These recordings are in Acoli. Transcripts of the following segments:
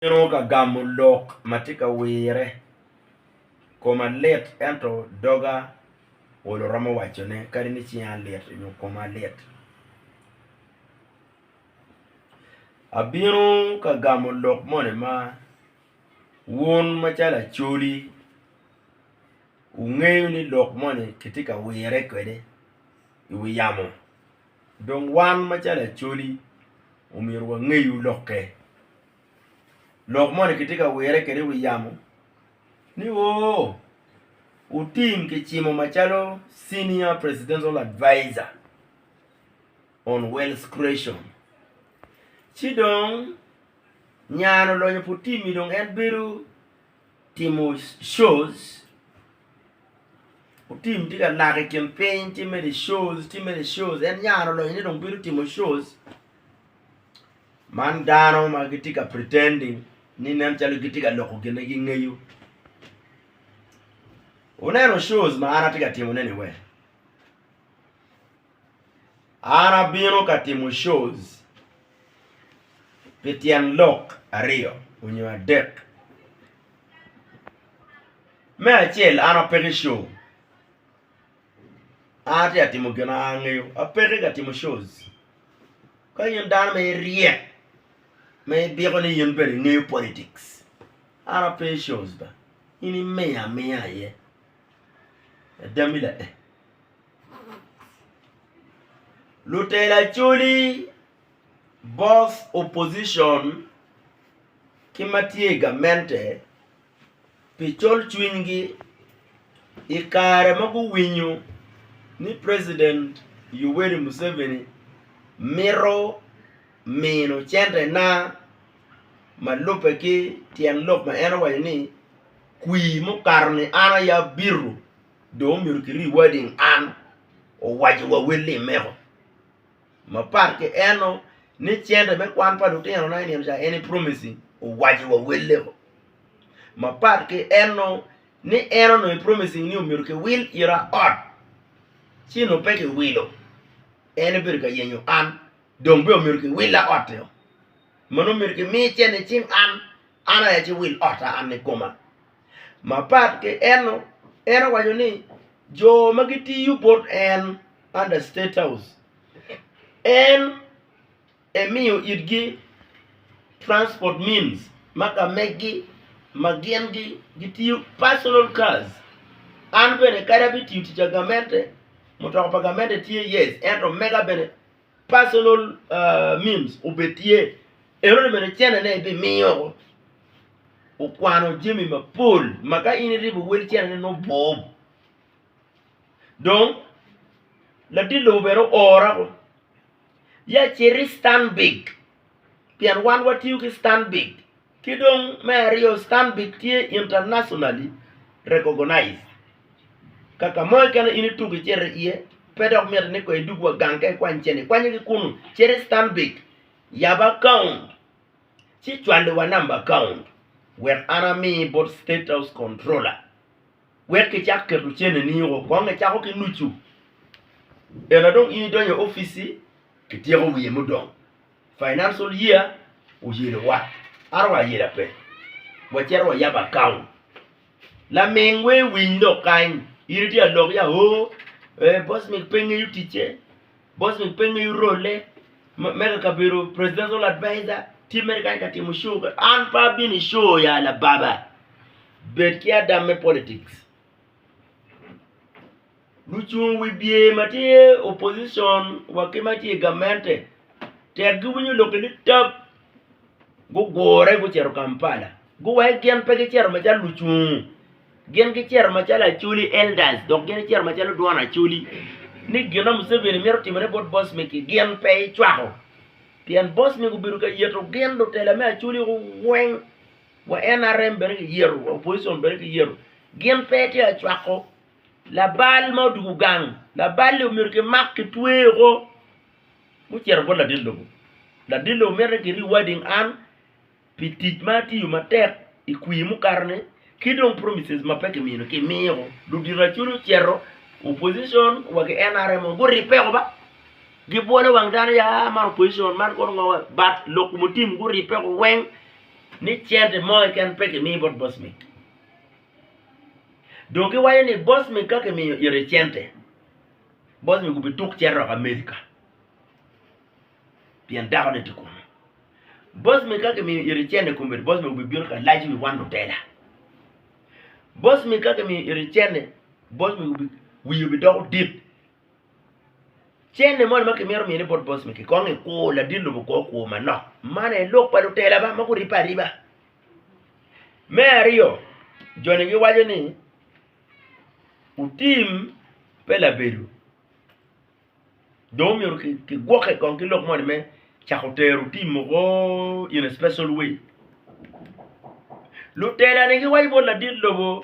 Atino ka gamo lok ma tye ka wirre, koma lit ento doga olo romo wacone kadi ni cinga lit nyo koma lit. Abino ka gamo lok moni ma wun macalo Acholi wungeyo ni lok moni kitye ka wirre kwede i wi yamo. Dong wan macalo Acholi omyero wangeyu lokke. Lok moni kitye ka wire kwede i wi yamo ni oo, Otim kicimo macalo Senior Presidential Adviser on Wealth Creation. Ci dong nya-ni olonyo pi Otim-mi dong en bedo. Timo shows, Otim tye ka nako i kin piny ci mere shows ci mere shows en nyare olony ni dong bino timo shows man dano ma gitye ka pretending ni nen calo gitye ka loko gin ma gingeyo. Wuneno shows ma an atye ka timone-ni wee? An abino ka timo shows. pi tyen lok aryo onyo adek. Me acel an apeki show, an atye ka timo gin ma an angeyo apeki ka timo shows. Ka in dano ma iryek ma ibiko ni in bene ingeyo politics an ape i shows ba, in imiya amiya aye. Adami lae. Lutela coli both opposition ki ma tye i gamente pi col cwinygi i kare ma guwinyo ni president Yoweri Museveni mito mino centena ma lubbe ki tyen lok ma en owaco ni kwir mukato-ni an aye abito. dong omyero kiri wadi in an owaco wa wel ni imeko mapat ki eno ni cente me kwan pa lutino na inino ca en i promising owaco wa welle o mapat ki eno ni en onongo i promising ni omyero ki wil ira ot ci nongo pe ki wilo en obedo ka yenyo an dong bene omyero ki willa otti o ma nongo myero ki mi cen icing an an aye aci wil otta an ni koma Mapat ki eno, en owaco ni jo ma gitiyo bot en, under State House, en emiyo itgi transport means ma ka meggi ma gin gitiyo personal cars. An bene kadi abitiyo tic pa gamente, mutoka pa gamente tye yes ento mega bene Personal means obed tye, enoni bene cenene ibimiyo okwano jami mapol ma ka in iribo wel cenene nongo bwoo. Dong latit lobo bene oora ko ya cit i Stanbic pien wan watiyo ki Stanbic. Ki dong me aryo Stanbic tye internationally recognized. Ka ka mo keken in ituko icito iye pe dok mitte ni kong idug wa gang ka ikwany cente, ikwanye ki kunu, cit i Stanbic yab account ci cwali wa number account wek an ami bot State House Controller wek kicak keto cene ni o kong icako ki nucu ela dong in idonyo office kityeko wiye mudong. Financial year oyelo wa ato wa ayela pe wa cito wa yabo account laming we iwiny lok kany in itye ka lok ya oo ee boss ni pe ngeyo ticce boss ni pe ngeyo role me ka kabedo presidential advisor tye mere kany ka timo show an pe abino i show ya lababa bed ki ada me politics. Lucung wibye ma tye opposition wa ki ma tye i gamente tek giwinyo lok-ki nitab gugure gucito Kampala guwaci gin pe gicito macalo lucung gin gicito macalo Acholi elders dok gin gicito macalo dwon Acholi ni gin ma Museveni mito timone bot boc migi gin pe ecwako pien boc migi obedo ka yito gin lutela me Acholi weng Wa NRM bene ki yeto, wa opposition bene ki yeto, gin pe tye ka cwako labal ma odugu gang, labal-li omyero ki mak ki tweye o, mucito bot ladit lobo, ladit lobo mito ni ki rewarding an pi tic ma atiyo matek i kwir mukato ni, ki dong promises ma pe ki mino ki miyo o, ludito acholi ocito, opposition wa ki NRM o gu ribbe o ba, gi bwolo wang dano ya man opposition man kono ngo, but lok mutim gu ribbe o weng. ni cente mo keken pe kimi bot bocmi. Dong giwaco ni bocmi ka kimiyo ite cente, bocmi gubituk cito dok Amerika pien dakone tye kunu. Bocmi ka kimiyo ite cente kombeddi bocmi gubibino ka lac wi wan lutela. Bocmi ka kimiyo ite cente, bocmi wii obidoko dit Cene moni ma kimito miyone bot boss ni kikong i kur ladit lobo kor kur manok man aye lok pa lutela ma guribbe ariba. Me aryo joni giwaco ni otim pe labedo dong omyero kigwoke kong ki lok moni me cako tero otim woko in a special way lutela ni giwaco bot ladit lobo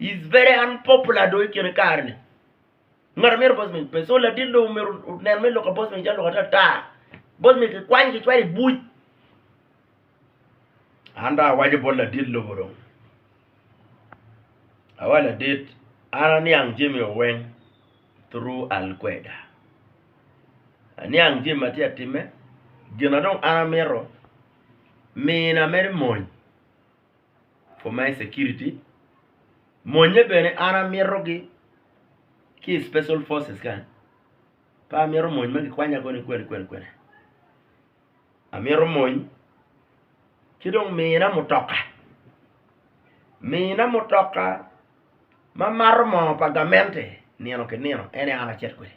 is very unpopular dong ikine kare ni ngat amyero boss man pe so ladit dong omyero onen me loka boss man calo loka ata tar boss man kikwany kicwalo i buc an dong awaco bot ladit lobo dong awaco ladit an aniang jami o weng through alkweda aniang jami matye atime gina dong an amyero mina mere mony Commerce security, monnye bene an amito gi ki special forces ka pe amito mony ma gikwanya koni kwene kwene kwene, amito mony ci dong mina mutoka, mina mutoka ma mato moo pa gamente nino ki nino ene an acito kwede.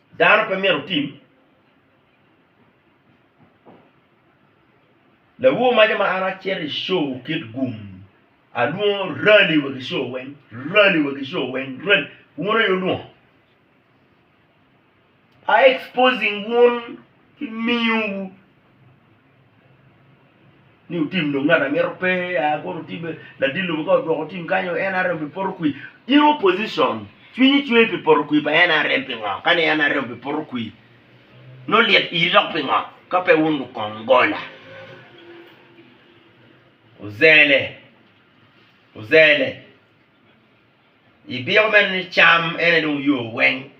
Dano pe myero otim Lawowo maca ma an acito i co kit gum alwongo rali wa ki co weng rali wa ki co weng rali wun aye wulwongo a exposing wun ki miyo wu ni otim dong ngat angeta pe a kono otim be ladit lobo ka odwoko tim kany o nrm bi poto kwir in opposition cwinyi cwer pi poto kwir pa nrm pingo kani nrm bi poto kwir nongo lyet iri dok pingo ka pe wun lukong gola ozele ozele ibiko meno ni cam en aye dong oyo weng.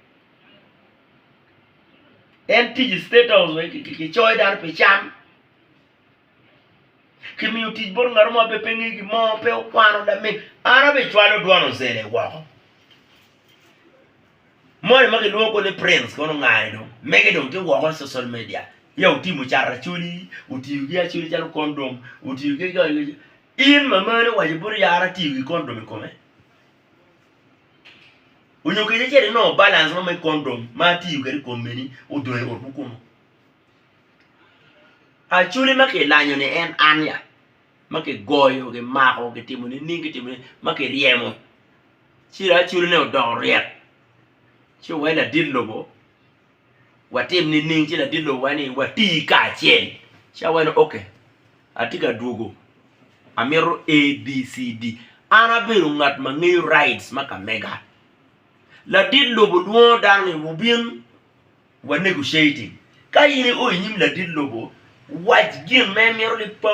En tic i state house wa kicoyo dano pi can, kimiyo tic bot ngat mo ma pe ngeyo gin mo pe okwano lamin an aye acwalo dwon ocele woko moni ma kilwongo koni prince kono ongani dong mege dong tye woko i social media ya otimo cat acholi otiyo ki acholi calo condom otiyo ki in mamani owaco bot yara atiyo ki condom i kome. Onyo keni ce inongo balance mo me condom ma atiyo kwede i kom meni odong i otwu kunu. Acholi ma kilanyo ni en an ya, ma kigoyo, kimako, kitimo nining, kitimo nining ma kiryemo ci dong acholi ne odoko ryek ci wai ladit lobo. Watim nining ci ladit lowa ni wati kacel? Ci awaci ni, Ok, atye ka dwogo, amito ABCD. An abedo ngat ma ngeyo rights ma ka mega. Ladit lobo lwongo dano ni wubin wa negotiating. Ka in ioyo i nyim ladit lobo, wac gin ma imito ni pa.